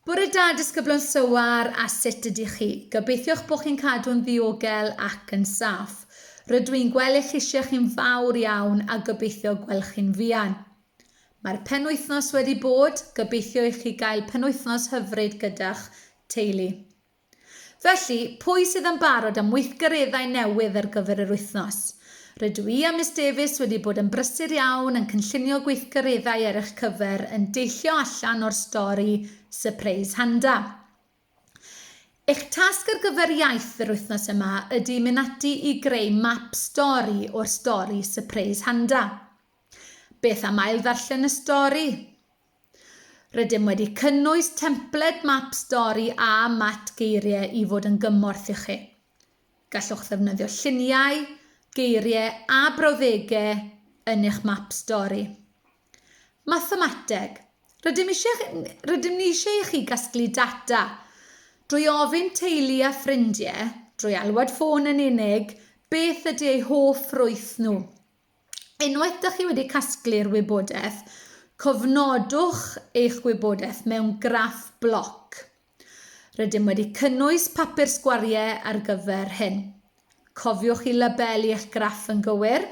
Bore da, disgyblion Sywar, a sut ydych chi? Gobeithiwch bod chi'n cadw'n ddiogel ac yn saff. Rydw i'n gweld eich llysiau chi'n fawr iawn a gobeithio gwelwch chi'n fuan. Mae'r penwythnos wedi bod, gobeithio i chi gael penwythnos hyfryd gyda'ch teulu. Felly, pwy sydd yn barod am weithgareddau newydd ar gyfer yr wythnos? Rydw i a Miss Davies wedi bod yn brysur iawn yn cynllunio gweithgareddau ar eich cyfer yn deillio allan o'r stori Sypreis Handa. Eich tasg ar gyfer iaith yr wythnos yma ydy mynd ati i greu map stori o'r stori Sypreis Handa. Beth am ail-ddarllen y stori? Rydym wedi cynnwys templed map stori a mat geiriau i fod yn gymorth i chi. Gallwch ddefnyddio lluniau, geiriau a brawddegau yn eich map stori. Mathemateg. Rydym, eisiau, rydym ni eisiau i chi gasglu data drwy ofyn teulu a ffrindiau, drwy alwad ffôn yn unig, beth ydy eu hoff ffrwyth nhw. Unwaith dych chi wedi casglu'r wybodaeth, cofnodwch eich wybodaeth mewn graff bloc. Rydym wedi cynnwys papur sgwariau ar gyfer hyn. Cofiwch i labelu eich graff yn gywir.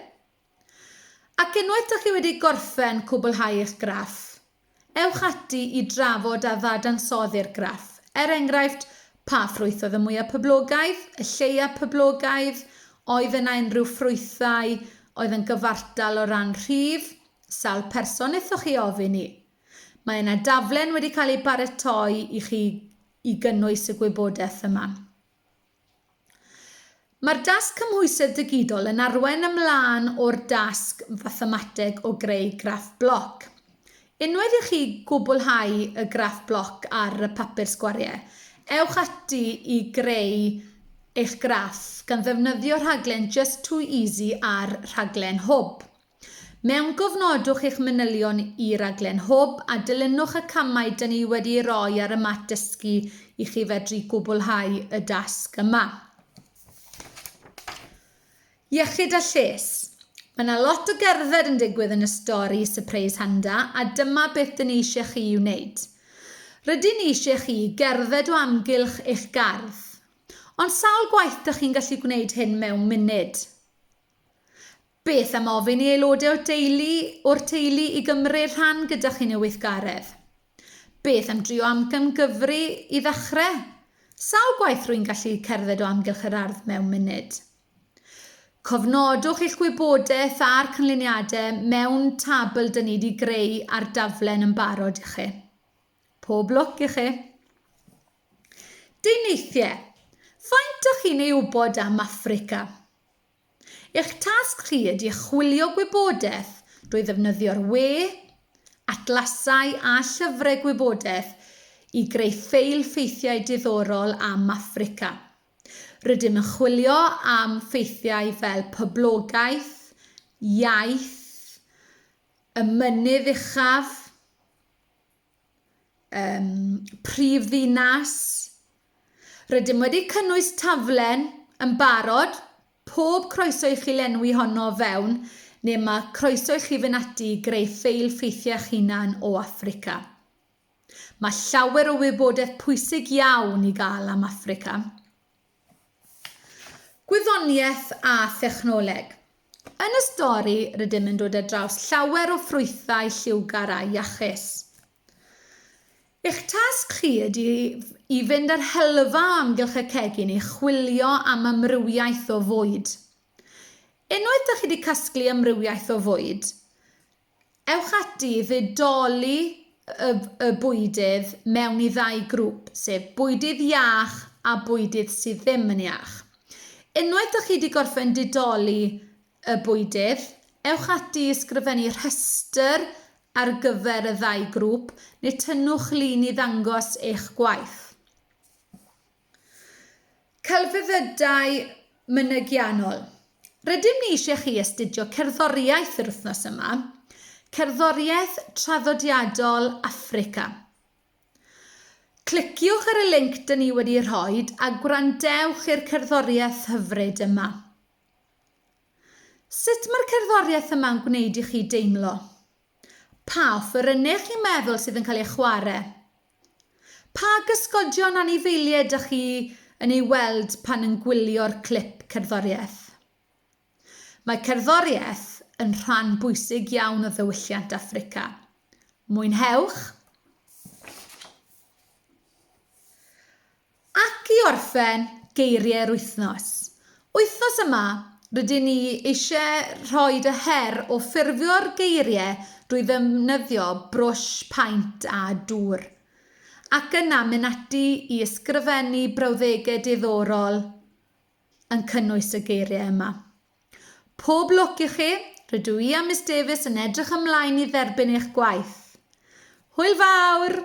Ac unwaith ydych chi wedi gorffen cwblhau eich graff, Ewch ati i drafod a ddadansoddi'r graff, er enghraifft, pa ffrwyth oedd y mwyaf poblogaidd, y lleiaf poblogaidd, oedd yna unrhyw ffrwythau oedd yn gyfartal o ran rhif, sawl person aethoch chi ofyn i? Mae yna daflen wedi cael ei baratoi i chi i gynnwys y gwybodaeth yma. Mae'r dasg cymhwysedd digidol yn arwain ymlaen o'r dasg fathemateg o greu graff bloc. Unwaith i chi gwblhau y graff bloc ar y papur sgwariau, ewch ati i greu eich graff gan ddefnyddio rhaglen Just Too Easy a'r rhaglen Hwb. Mewngofnodwch eich manylion i Raglen Hwb a dilynwch y camau dŷn ni wedi'u rhoi ar y mat dysgu i chi fedru gwblhau y dasg yma. Iechyd a lles. Mae yna lot o gerdded yn digwydd yn y stori Surprise Handa a dyma beth dŷn ni eisiau chi i'w wneud. Rydyn ni eisiau chi gerdded o amgylch eich gardd. Ond sawl gwaith dych chi'n gallu gwneud hyn mewn munud? Beth am ofyn i aelodau o'r teulu o'r teulu i gymryd rhan gyda chi yn y weithgaredd? Beth am drio amcangyfri i ddechrau? Sawl gwaith rwy'n gallu cerdded o amgylch yr ardd mewn munud? Cofnodwch eich gwybodaeth a'r canlyniadau mewn tabl dyn ni wedi greu ar daflen yn barod i chi. Pob lwc i chi! Deunyddiau. Faint o chi'n ei wybod am Affrica? Eich tasg chi ydy chwilio gwybodaeth drwy ddefnyddio'r we, atlasau a llyfrau gwybodaeth i greu ffeil ffeithiau diddorol am Affrica. Rydym yn chwilio am ffeithiau fel poblogaeth, iaith, y mynydd uchaf, um, prif ddinas. Rydym wedi cynnwys taflen yn barod, pob croeso i chi lenwi honno fewn, neu mae croeso i chi fynd ati i greu ffeil ffeithiau'ch hunan o Africa. Mae llawer o wybodaeth pwysig iawn i gael am Africa. Gwyddoniaeth a thechnoleg. Yn y stori rydym yn dod ar draws llawer o ffrwythau lliwgar a iachus. Eich tasg chi ydy i fynd ar hylfa o amgylch y cegin i chwilio am amrywiaeth o fwyd. Unwaith da chi wedi casglu amrywiaeth o fwyd, Ewch ati i ddidoli y y bwydydd mewn i ddau grŵp, sef bwydydd iach a bwydydd sydd ddim yn iach. Unwaith dych chi wedi gorffen didoli y bwydydd, ewch ati i ysgrifennu rhestr ar gyfer y ddau grŵp neu tynnwch lun i ddangos eich gwaith. Celfyddydau Mynygiannol Rydym ni eisiau chi astudio cerddoriaeth yr wythnos yma, Cerddoriaeth Traddodiadol Affrica. Cliciwch ar y linc dyn ni wedi rhoi a gwrandewch i'r cerddoriaeth hyfryd yma. Sut mae'r cerddoriaeth yma'n gwneud i chi deimlo? Pa offerynnau chi'n meddwl sydd yn cael eu chwarae? Pa gysgodion anifeiliaid ydych chi yn ei weld pan yn gwylio'r clip cerddoriaeth? Mae cerddoriaeth yn rhan bwysig iawn o ddiwylliant Affrica. Mwynhewch! Ac i orffen, geiriau'r wythnos. Wythnos yma, rydyn ni eisiau rhoi y her o ffurfio'r geiriau drwy ddefnyddio brwsh paent a dŵr, ac yna mynd ati i ysgrifennu brawddegau diddorol yn cynnwys y geiriau yma. Pob lwc i chi, rydw i a Miss Davies yn edrych ymlaen i dderbyn eich gwaith. Hwyl fawr!